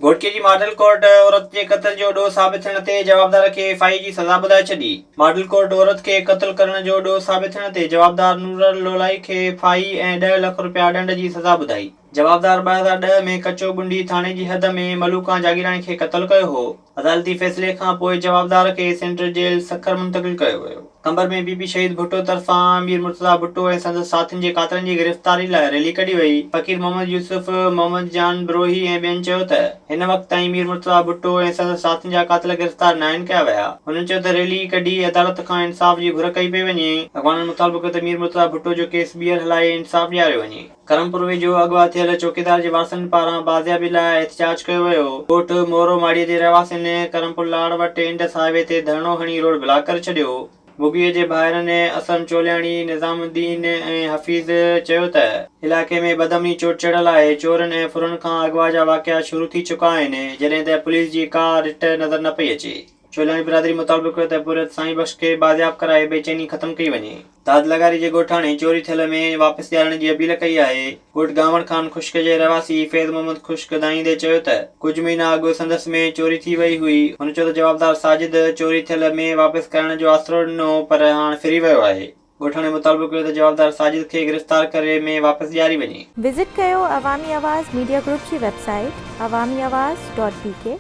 گهوٽڪي جي model court عورت جي قتل جو ڏوهه ثابت ٿيڻ تي جوابدار کي ايف آء اي جي سزا ٻڌائي ڇڏي. ماڊل ڪورٽ عورت کي قتل ڪرڻ جو ڏوهه ثابت ٿيڻ تي جوابدار نورل لولائي کي ايف آء اي ۽ ڏهه لک رپيا ڏنڊ جي سزا ٻڌائي. جوابدار ٻه هزار ڏهه ۾ ڪچو ڳنڊي ٿاڻي جي حد ۾ ملوڪان جاگيراڻي کي قتل ڪيو هو. عدالتي فيصلي کان پوء جوابدار کي سينٽرل جيل سکر منتقل ڪيو ويو. قمبر ۾ بي بي شهيد ڀٽو طرفان مير مرتضيٰ ڀٽو ۽ سندس ساٿين جي قاتلن جي گرفتاري لاء ريلي ڪڍي وئي. فقير محمد يوسف، محمد جان بروهي ۽ ٻين چيو ته هن وقت تائين مير مرتضيٰ ڀٽو ۽ سندس ساٿين جا قاتل گرفتار ناهن ڪيا ويا. هنن چيو ته ريلي ڪڍي عدالت کان انصاف جي گهر ڪئي پئي وڃي. اڳواڻن مطالبو ڪيو ته مير مرتضيٰ ڀٽو جو ڪيس ٻيهر هلائي انصاف ڏياريو وڃي. ڪرم پوروي جو اغوا ٿيل چوڪيدار جي وارثن پاران بازيابي لاء احتجاج ڪيو ويو. ڳوٺ مورو ماڙيء جي رهواسين ڪرم پور لاڙ وٽ انڊس هاء وي تي ڌرڻو هڻي روڊ بلاڪ ڪري ڇڏيو. بگيء جي ڀائرن اسلم چولياڻي، نظام الدين ۽ حفيظ چيو ته، علائقي ۾ بدامني چوٽ چڙهيل آهي چورن ۽ ڦرن کان اغوا جا واقعا شروع ٿي چڪا آهن جڏهن ته پوليس جي ڪا رٽ نظر نه پئي اچي. چولهاڻي برادري مطابق هيو ته پورهيت سائين بخش کي بازياب ڪرائي بي چيني ختم ڪئي وڃي. داد لغاري جي ڳوٺاڻي چوري ٿيل مينهن واپس ڏيارڻ جي اپيل ڪئي آهي. ڳوٺ گانوڙ خان خشڪ جي رهواسي فيض محمد خشڪ ڳائيندي چيو ته ڪجهه مهينا اڳ سندس مينهن چوري ٿي وئي هئي، هن چيو ته جوابدار ساجد چوري ٿيل مينهن واپس ڪرائڻ جو آسرو ڏنو پر هاڻ ڦري ويو آهي. ڳوٺاڻي مطالبو ڪيو ته جوابدار ساجد کي گرفتار ڪري مينهن واپس ڏياري وڃي. وزٽ ڪيو عوامي آواز ميڊيا گروپ جي website Awami Awaz dot بي ڪي.